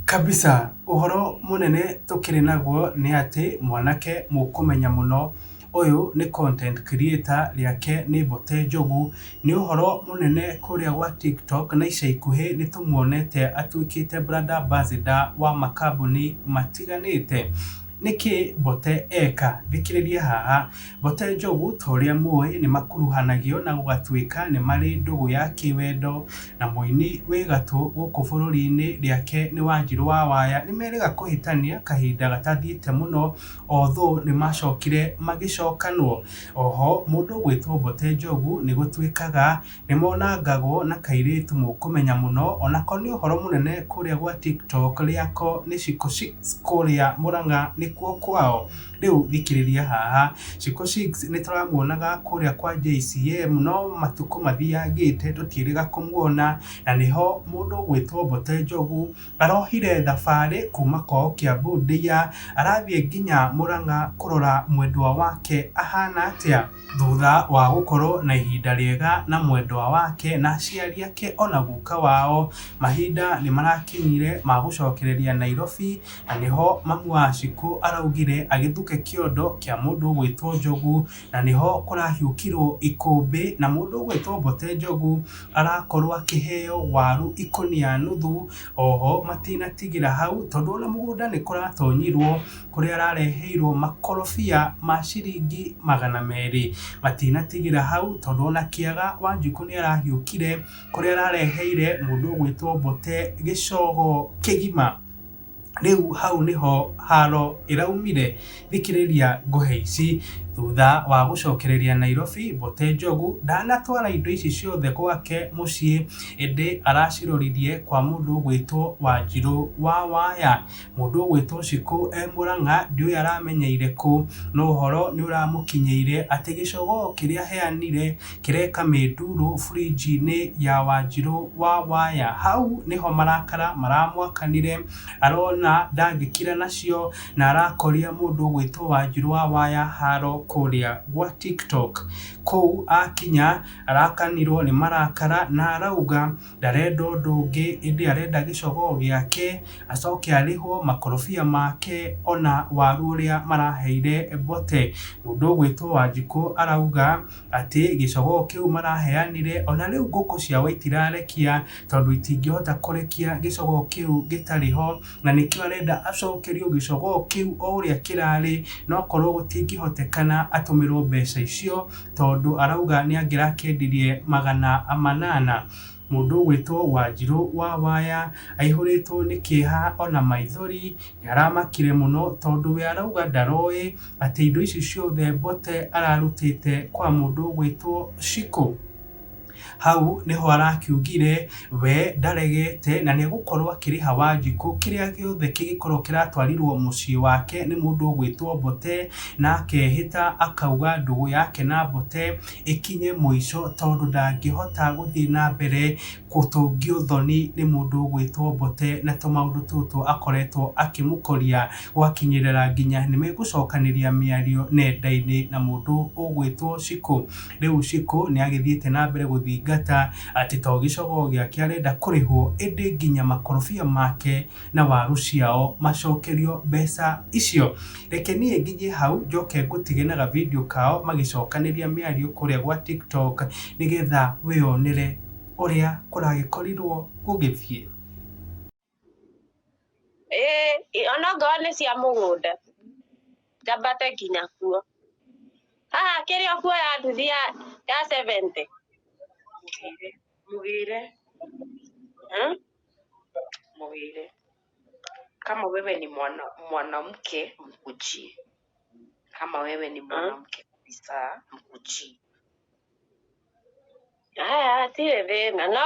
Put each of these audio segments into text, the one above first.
Kabisa. Ũhoro mũnene tũkĩrĩ naguo nĩ atĩ mwanake mũkũmenya mũno ũyũ nĩ content creator rĩake nĩ Mbote Njogu. Nĩ ũhoro mũnene kũrĩa gwa TikTok na ica ikuhĩ nĩ tũmuonete atuĩkĩte brand ambassador wa makambuni matiganĩte. Nĩkĩ Mbote eka? Thikĩrĩria haha. Bote Njogu, ta ũrĩa mũĩ, nĩ makuruhanagio na gũgatuĩka nĩ marĩ ndũgũ ya kĩwendo na mũini wĩ gatũ gũkũ bũrũri-inĩ rĩake nĩ Wanjirũ wa Waya, nĩ merĩga kũhĩtania kahinda gatathiĩte mũno although nĩ macokire magĩcokanwo. Oho mũndũ gwĩtwo Bote Njogu nĩ gũtuĩkaga Nĩmonangagwo na kairĩtu mũkũmenya mũno onako nĩ ũhoro mũnene kũrĩa gwa tiktok rĩako nĩ shiko shicks kũrĩa mũrang'a nĩkuo kwao rĩu thikĩrĩria haha shiko shicks nĩtũramuonaga kũrĩa kwa JCM no matukũ mathiyangĩte tũtiĩrĩga kũmuona na nĩho mũndũ ũgwĩtwo Mbote Njogu arohire thabarĩ kuma kwao Kiambu Ndia arathiĩ nginya mũrang'a kũrora mwendwa wake ahana atĩa. Thutha wa gũkorwo na ihinda rĩega na mwendwa wake na aciari ake ona guka wao, mahinda nĩmarakinyire ma gũcokereria Nairobi na nĩho mamu wa Shiko araugire agĩthuke kĩondo kĩa mũndũ ũgwĩtwo Njogu na nĩho kũrahiũkirwo ikũmbĩ na mũndũ ũgwĩtwo Mbote Njogu arakorwo akĩheo waru ikũnia nuthu. Oho matinatigĩra hau tondũ ona mũgũnda nĩkũratonyirwo. kũrĩa arareheirwo makorobia ma ciringi magana merĩ. Matinatigĩra hau tondũ ona Kĩaga Wanjikũ nĩarahiũkire kũrĩa arareheire mũndũ ũgwĩtwo Mbote gĩcogo kĩgima. Rĩu hau nĩho haro ĩraumire, thikĩrĩria ngohe ici. Thutha wa gũcokereria Nairobi, Mbote Njogu ndanatwara indo ici ciothe gwake mũciĩ, ĩndĩ araciroririe kwa mũndũ ũgwĩtwo Wanjirũ wa Waya. Mũndũ ũgwĩtwo Shikũ e Mũrang'a ndiũĩ aramenyeire kũ, no ũhoro nĩũramũkinyĩire atĩ gĩcogoo kĩrĩa aheanire kĩreka mĩndurũ fridge-inĩ ya Wanjirũ wa waya. Hau nĩho marakara maramwakanire, arona ndangĩkira nacio na arakoria mũndũ ũgwĩtwo Wanjirũ wa waya haro kũrĩa gwa TikTok. Kũu akinya arakanirwo nĩ marakara na arauga ndarenda ũndũ ũngĩ ĩndĩ arenda gĩcogoo gĩake acoke arĩhwo makorobia make ona waru ũrĩa maraheire Mbote. Mũndũ ũgwĩtwo Wanjikũ arauga atĩ gĩcogoo kĩu maraheanire ona rĩu ngũkũ ciao itirarekia tondũ itingĩhota kũrekia gĩcogoo kĩu gĩtarĩ ho na nĩkĩo arenda acokerio gĩcogoo kĩu o ũrĩa kĩrarĩ na okorwo gũtingĩhotekana atũmĩrwo mbeca icio. tondũ arauga nĩangĩrakendirie magana manana. Mũndũ ũgwĩtwo Wanjirũ wa Waya aihũrĩtwo nĩ kĩeha ona maithori, nĩaramakire mũno tondũ we arauga ndaroĩ atĩ indo ici ciothe Mbote ararutĩte kwa mũndũ ũgwĩtwo Shiko. Hau nĩho arakiugire, we ndaregete na nĩegũkorwo akĩrĩha Wanjikũ kĩrĩa gĩothe kĩngĩkorwo kĩratwarirwo mũciĩ wake nĩ mũndũ ũgwĩtwo Mbote, na akehĩta akauga ndũgũ yake na Mbote ĩkinye mũico tondũ ndangĩhota gũthiĩ na mbere gũtũngio thoni nĩ mũndũ ũgwĩtwo Mbote na tũmaũndũ tũtũ akoretwo akĩmũkoria, gwakinyĩrĩra nginya nĩmegũcokanĩria mĩario nenda-inĩ na mũndũ ũgwĩtwo Cikũ. Rĩu Shiko nĩ agĩthiĩte na mbere gũthingata atĩ to gĩcogoo gĩake arenda kũrĩhwo ĩndĩ nginya makorobia make na waru ciao macokerio mbeca icio. Reke niĩ nginye hau njoke ngũtige na ga video kao magĩcokanĩria mĩario kũrĩa gwa TikTok nĩgetha wĩyonere ũrĩa kũragĩkorirwo gũgĩthiĩ. ĩĩ onokorwo nĩ cia mũgũnda njambate nginya kuo. Haha kĩrĩa ũkuoya nduthi ya ya seventy mũgĩre hmm mũgĩre kama wewe ni mwana mwanamke mkujie kama wewe ni mwanamke kabisa mkujie. Haya hatirĩ thĩna no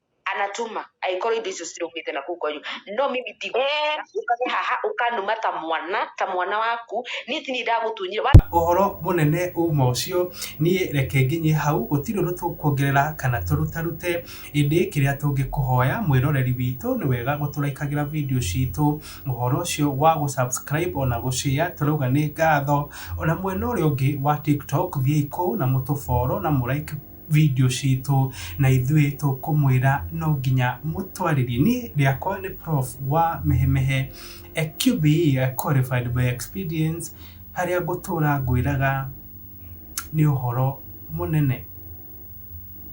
anatuma angĩkorwo indo icio ciũkĩte na kũu kwanyu no mimi ti Eh. ũkage haha ũkanuma ta mwana ta mwana waku niĩ ti niĩ ndagũtunyire wa ũhoro mũnene uma ũcio niĩ reke nginye hau gũtirĩ ũndũ tũkuongerera kana tũrutarute ĩndĩ kĩrĩa tũngĩkũhoya mwĩroreri witũ nĩ wega gũtũraikagĩra video citũ ũhoro ũcio wa gũ subscribe ona gũ share tũrauga nĩ ngatho ona mwena ũrĩa ũngĩ wa tiktok thiĩi kũu na mũtũ follow na mũ like video citũ na ithuĩ tũkũmwĩra no nginya mũtwarĩrie. Niĩ rĩakwa nĩ prof wa Mehemehe QBE qualified by experience harĩa ngũtũra ngwĩraga nĩ ũhoro mũnene.